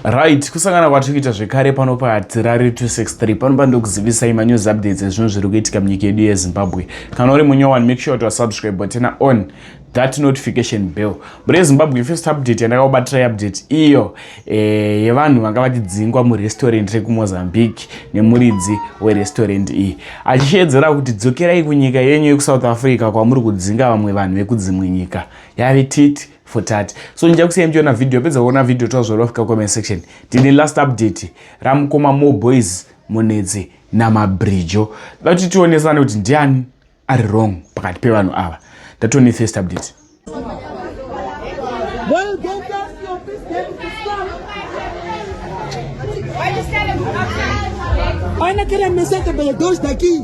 right kusangana kwatiri kuita zvekare pano patirari 263 panopa ndokuzivisai manews updates ezvinhu zviri kuitika munyika yedu yezimbabwe kana uri munyowani make sure kuti wasubscribe butena on that notification bell mune zimbabwe first update yandakakubatira update iyo eh, yevanhu vanga vachidzingwa murestaurant rekumozambique nemuridzi werestaurant iyi achishedzera kuti dzokerai kunyika yenyu yekusouth africa kwamuri kudzinga vamwe vanhu vekudzimwe nyika yave titi for tati so ndija kusiya ndichiona video yapedza kuona video tozorwa fika comment section tine last update ramukoma more boys munetsi namabrijo da kuti tionesane kuti ndiani ari wrong pakati pevanhu ava ndatone first update Ana kila mesaka bele dosta ki.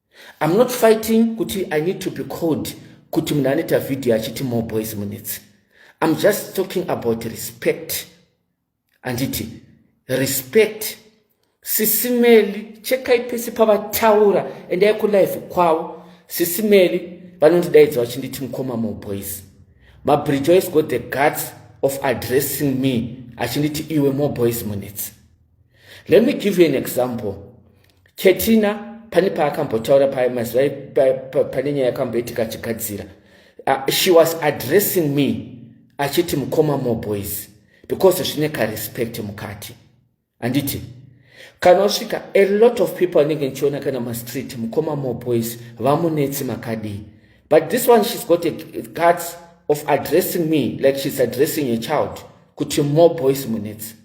I'm not fighting kuti I need to be called kuti munhu anoita video achiti more boys minutes I'm just talking about respect handiti respect sisimeli chekai pese pavataura endai kulive kwavo sisimeli vanondidaidza vachinditi mukoma more boys mabridge always got the guts of addressing me achinditi iwe more boys minutes let me give you an example ketina pane paakambotaura paye mazuva pane nyaya yakamboitika achigadzira uh, she was addressing me achiti mukoma more boys because zvine karespect mukati handiti kana usvika a lot of people anenge ndichiona kana mastreet mukoma more boys vamunetsi makadii but this one she's got a guts of addressing me like she's addressing a child kuti more boys munetsi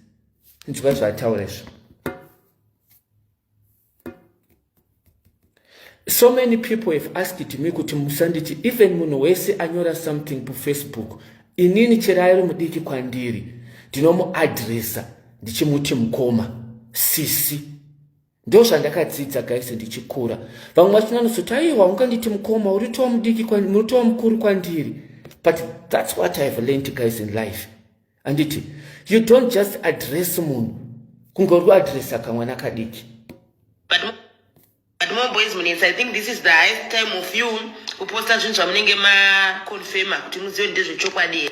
nzwa zvataura izvo so many people have asked me kuti musanditi even munhu wese anyora something pafacebook inini chero airi mudiki kwandiri ndinomuadresa ndichimuti mukoma sisi ndozvandakadzidza guys ndichikura vamwe vachinanotsoti aiwa unganditi mukoma uritowa mudiki muritowa mukuru kwandiri but thats what ihave learnt guys in life anditi you don't just address munhu kunge uri kuadresa kamwana kadiki kuposta zvinhu zvamunenge maconfirma kuti muzive ndezvechokwadi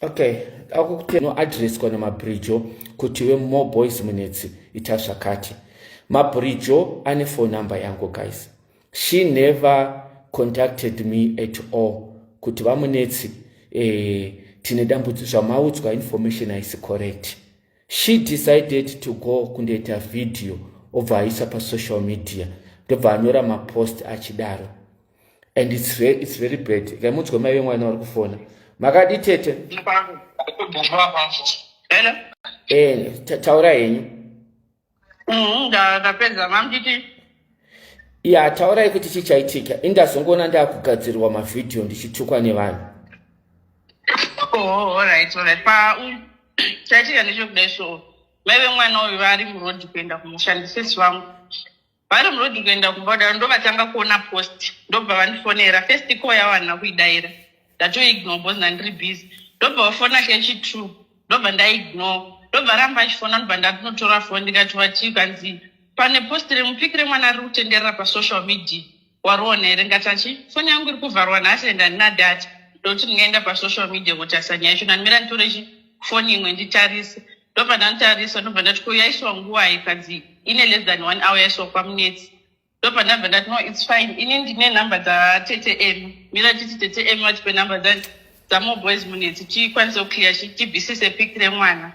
okay akukutennoadresswa namabridjo kuti we more boys munetsi ita zvakati mabridjo ane phone number yangu guys she never contacted me at all kuti vamunetsi eh, tine dambudzi zvamaudzwa information haisi correct she decided to go kundoita video obva aisa pasocial media ndobva anyora mapost achidaro and it's, re, it's very bad kai munzwe mai vemwana vari kufona makadi tete eh, taura henyu mm-hmm, ndapedza mamditi ya taurai kuti chii chaitika indazongoona ndaakugadzirwa mavhidhiyo ndichitukwa nevanhu oh, chaitika ndechokudai so mai vemwana uyu vari murodhi kuenda kumushandisesi vangu vari muroad kuenda kumba kudaro ndovatanga kuona post ndobva vandifonera first call yavo handina kuidaira ndatoignore bcause ndandiri busy ndobva vafona kechi true ndobva ndaignore ndobva ramba achifona ndobva ndatonotora foni ndikati vatii kanzi pane post remupiki remwana riri kutenderera pasocial media Wariona here ngati achi foni yangu iri kuvharwa nhasi and handina data ndokuti ndingaenda pasocial media kutarisa nyaya yacho ndanimira nditore chi foni imwe nditarise ndobva ndanditarisa ndobva ndati ko yaiswa nguvai kanzi ine less than one hour yaiswa kwamunetsi ndobva ndabva ndati no its fine ini ndine number dzatete m mira titi tete m vatipe number dzani dzamoboys munetsi tikwanise kuclear tibvisise pic remwana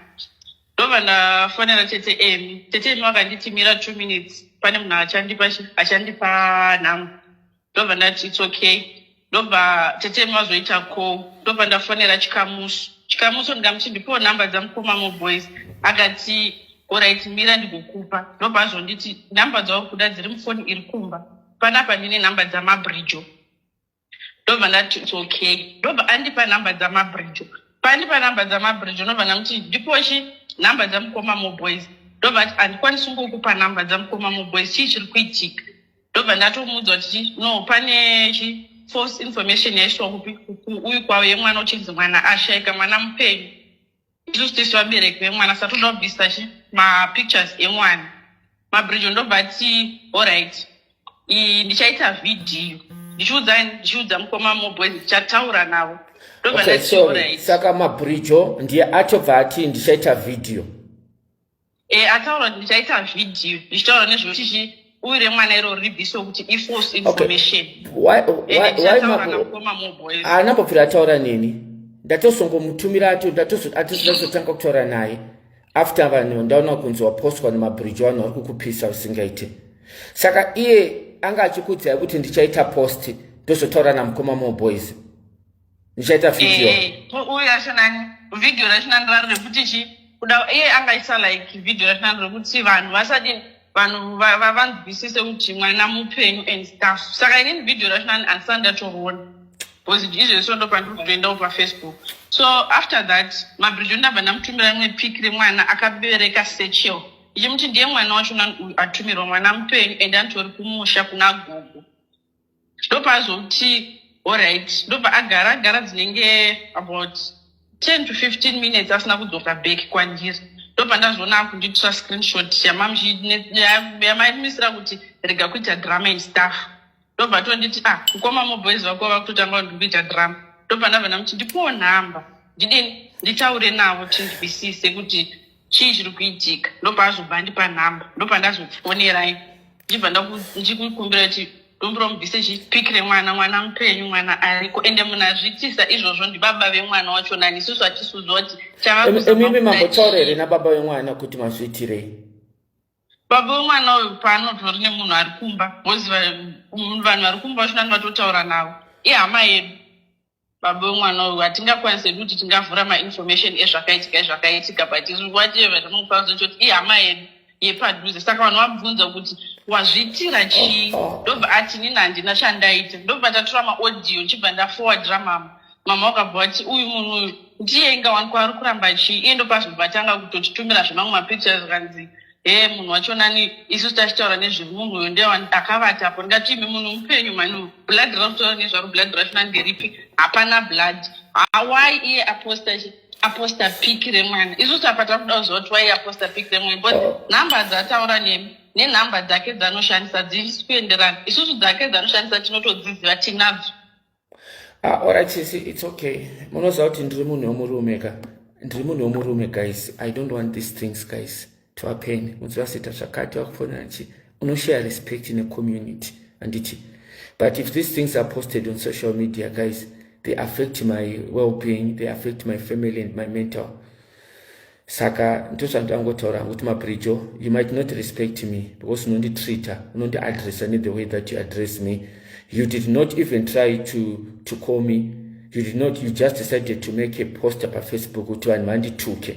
ndobva ndafonera tete emi tete emi vakanditimira two minutes pane munhu achandipa achandipa nhamo ndobva ndati its okay ndobva tete emi vazoita ko ndobva ndafonera chikamuso chikamuso ndikamuti ndipowo number dzamukoma moboys akati orit mira ndigokupa ndobva azonditi number dzauri kuda dziri mufoni iri kumba panapa ndine number dzamabridge ndobva ndati its okay ndobva andipa number dzamabridge paandipa number dzamabridge ndobva ndamuti ndipochi number dzamukoma moboys ndobva ati handikwanisi kungokupa number dzamukoma moboys chii chiri kuitika ndobva ndatomuudza kuti no pane chi false information yaiswa kupi uyu kwavo yemwana uchinzi mwana ashaika mwana mupenyu isusu tese vabereki vemwana saka toda kubvisa chi mapictures emwana mabrijo ndobva ti allright ndichaita vhidhiyo ndichiudza ndichiudza mukoma moboys ndichataura navo ndobva ndati allright saka mabrijo ndiye achobva ati ndichaita vhidhiyo e, ataura kuti ndichaita vhidhiyo ndichitaura nezvekuti chii uyu remwana iro ribviswe kuti ifalse information haana kubvira ataura neni ndatozongomutumira ato ndatozotanga kutaura naye after vanhu ndaona kunzi wapostwa nemabridge vanhu vari kukupisa usingaite saka iye anga achikudzai kuti ndichaita post ndozotaura namukoma moboys ndichaita video eh, uyu yacho nani video racho nani rari rekuti chi kuda iye angaisa like video racho nani rekuti vanhu vasadini vanhu vanzwisise kuti mwana mupenyu and stuff saka inini video racho nani andisati ndatoroona because izvezvi so ndopandiri kutoendawo pafacebook so after that mabridge ndabva ndamutumira rimwe pic remwana akabereka sechel ichimuti ndiye mwana wacho nani atumirwa mwana mupenyu and anditori kumusha kuna gogo ndopazoti orit ndobva agara agara dzinenge about ten to fifteen minutes asina kudzoka back kwandiri ndobva ndazoona akundiitisa screenshot yamaimisira kuti rega kuita drama and staff ndobva tonditi ah mukoma moboys vako vakutotanga kuti ndikuita drama ndobva ndabva ndamuti ndipowo nhamba ndidini nditaure navo tindwisise kuti chii chiri kuitika ndobva azobva andipa nhamba ndobva ndazofonerai ndichibva ndichikumbira kuti dombiro mubvise chipic remwana mwana mupenyu mwana ariko ende munhu azviitisa izvozvo ndibaba vemwana wacho nani isusu hatisuziva kuti chavaemimi mambotaura here nababa vemwana kuti mazviitirei baba vemwana uyu paanotori nemunhu ari kumba voziva vanhu vari kumba vachonani vatotaura navo ihama yedu baba vemwana uyu hatingakwanise hedu kuti tingavhura mainformation ezvakaitika ezvakaitika but whatever ndinokwanisa kuti ihama yedu yepadhuze saka vanhu vabvunza kuti wazviitira chii ndobva ati nini handina chandaita ndobva tatora maaudio ndichibva ndafowadira mama mama wakabva wati uyu munhu uyu ndiye inga wani kwaari kuramba chii iye ndopazvobva tanga kutotitumira zvemamwe mapictures kanzi ee munhu wacho nani isu tachitaura nezvemunhu uyo ndiye akavata apo ndingati imi munhu mupenyu mani blood rakutaura nezvaro blood racho nani nderipi hapana blood hawai iye aposta aposta pic remwana isu tapa takuda kuziva kuti wai aposta pic remwana but number dzataura nemi nenumber dzake dzanoshandisa dzisi kuenderana isusu dzake dzanoshandisa tinotodziziva tinadzo Ah, alright sisi, it's okay. Munoziva kuti ndiri munhu wemurume ka. Ndiri munhu wemurume guys. I don't want these things guys. To a pain. Munoziva sita zvakati wakufona nchi. Uno share respect in a community. And it. But if these things are posted on social media guys, they affect my well-being, they affect my family and my mental. saka ndozvandangotaura hangu kuti maprijo you might not respect me because unonditreata unondiadressa nethe way that you address me you did not even try to, to call me you did not you just decided to make a poster pafacebook kuti vanhu vandituke